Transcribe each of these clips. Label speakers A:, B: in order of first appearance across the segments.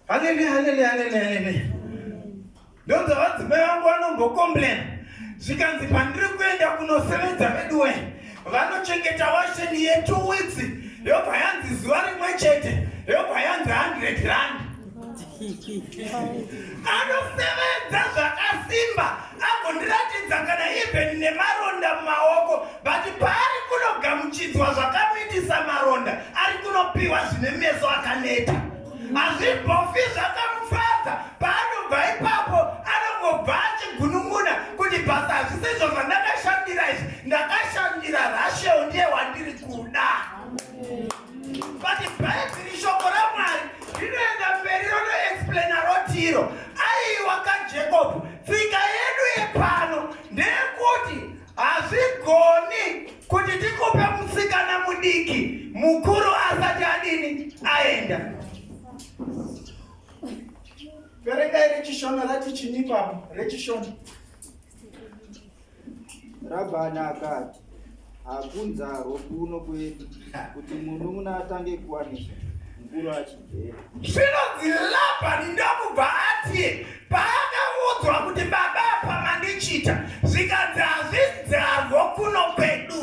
A: Halele, halele, halele, halele. Ndonza vadzimai vangu vanombokomplain zvikanzi pandiri kuenda kunosevenza veduwe vanochengeta washeni yetu witsi yobva yanzi zuva rimwe chete yobva yanzi 100 rand anosevenza zvakasimba agondiratidza kana even nemaronda mumaoko but paari kunogamuchidzwa zvakamuitisa maronda ari kunopiwa zvine meso akaneta hazvibhofi zvakamufadza paanobva ipapo anongobva achigunun'una kuti basa hazvisizvo zvandakashandira izvi ndakashandira rasheo ndiye wandiri kuda but bhaibheri shoko ramwari rinoenda mberi ronoexplaina rotiro aiwa kajacob Tsika yedu yepano ndeyekuti hazvigoni kuti tikupe musikana mudiki mukuru asati adini aenda. Verengai rechishona rati chinipapo rechishona Rabhani akati, Hakunzarwo kuno kwedu kuti munun'una atange kuwanisa mukuru achigera. Zvinonzi Rabhani ndokubva ati paakaudzwa kuti baba apa mandichita zvikanzi hazvinzarwo kuno kwedu.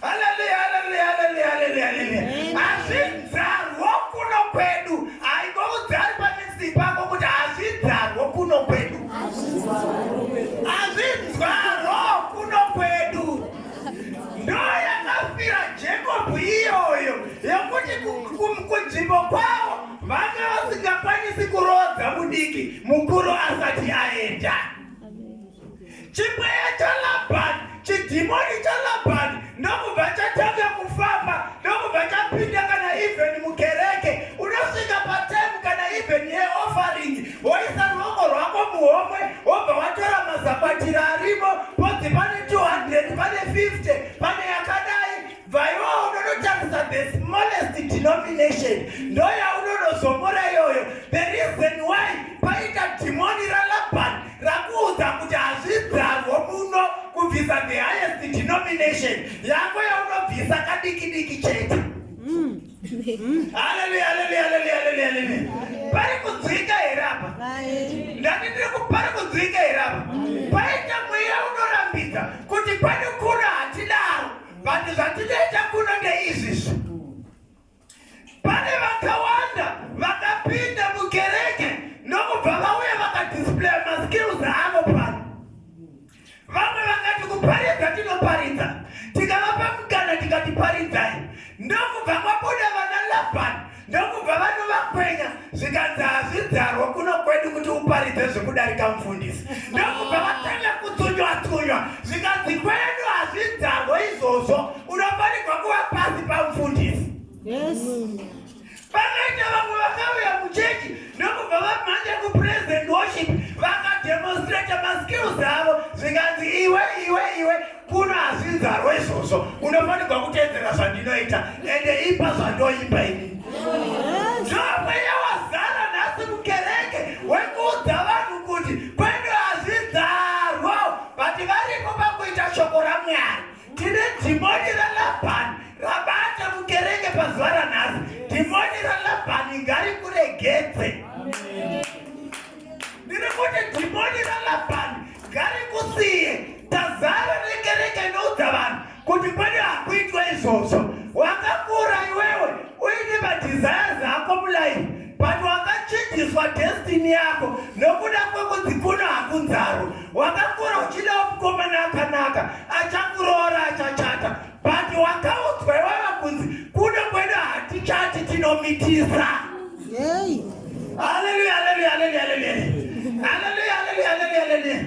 A: Haleluya, haleluya, haleluya, haleluya, haleluya. Hazvidzarwo kuno kwedu. Haingoudzari pamizi pako kuti hazvidzarwo kuno kwedu. Hazvidzarwo kuno kwedu. Ndoo yakafira Jacob iyoyo yokuti kunzvimbo kwavo vanga vasingakwanisi kuroodza mudiki mukuru asati aenda. Chibweya chaLabani, chidhimoni chaLabani ndokubva chatanga kufamba ndokubva chapinda kana even mukereke unosvika patime kana even yeoffering woisa ruoko rwako muhomwe wobva watora mazakwatira arimo podzi pane 200 pane 50 pane yakadai Vaiwa unonotarisa the smallest denomination ndoyaunonozomora iyoyo the reason why paita dhimoni ralaban rakuudza kuti hazvidzarwo muno kubvisa the highest denomination yako yaunobvisa kadiki diki chete mm. Mm. haleluya haleluya haleluya haleluya haleluya pari kudzwika here apa ndati ndiri kupari kudzwika here apa paita mweya unorambidza kuti pane but zvatinoita kuno ndeizvizvi pane vakawanda vakapinda mukereke ndokubva vauya vakadisplaya maskills avo pano vamwe vakati kuparidza tinoparidza tikavapa mukana tikati paridzai ndokubva kwabuda vana labani ndokubva vanovakwenya zvikanzi hazvidzarwa kuno kwedu kuti uparidze zvekudarika mufundisi ndokubva vatanga kutsunywa tsunywa zvikanzi kwedu hazvidzarwa izvozvo unofanirwa kuva pasi pamufundisi pakaita vamwe vakauya muchechi ndokubva vamhanya kupresident worship vakademonstrata maskills avo zvikanzi iwe iwe iwe Kuna asi nzarwa izvozvo unofanirwa kuteedzera zvandinoita ende ipa zvandoimba ini. Zvamweya wazara nhasi mukereke wekuudza vanhu kuti kwedu hazvidzarwa vati varipo pakuita shoko raMwari. Tine dhimoni raLabhani rabata mukereke pazuva ranhasi. Dhimoni raLabhani ngarikuregedze. ndiri kuti dhimoni ralabhani ngarikusiye tazara rekereke inoudza vanhu kuti pane hakuitwa izvozvo wakakura iwewe uine madhizaya zako mulaifi but wakachinjiswa destini yako nokuda kwekudzikuna hakunzaro wakakura uchidawo mukomana akanaka achakuroora achachata But wakaudzwa iwawa kunzi kuno kwedu hatichati tinomitisa. Yay. Hallelujah, hallelujah, hallelujah, hallelujah. Hallelujah, hallelujah, hallelujah, hallelujah.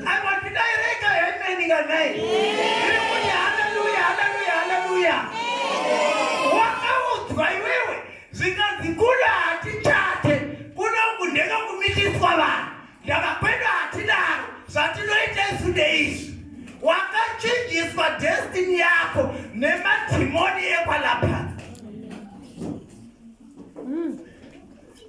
A: I want to direct a amen in the night. Hallelujah, hallelujah, hallelujah. Wakaudzwa iwewe zvikanzi kuno hatichati kuno kundeka kumitiswa vanhu. Ndava kwedu hatidaro zvatinoita isu ndeizvi. Wakachinjiswa destiny yako nemadhimoni ekwalapha.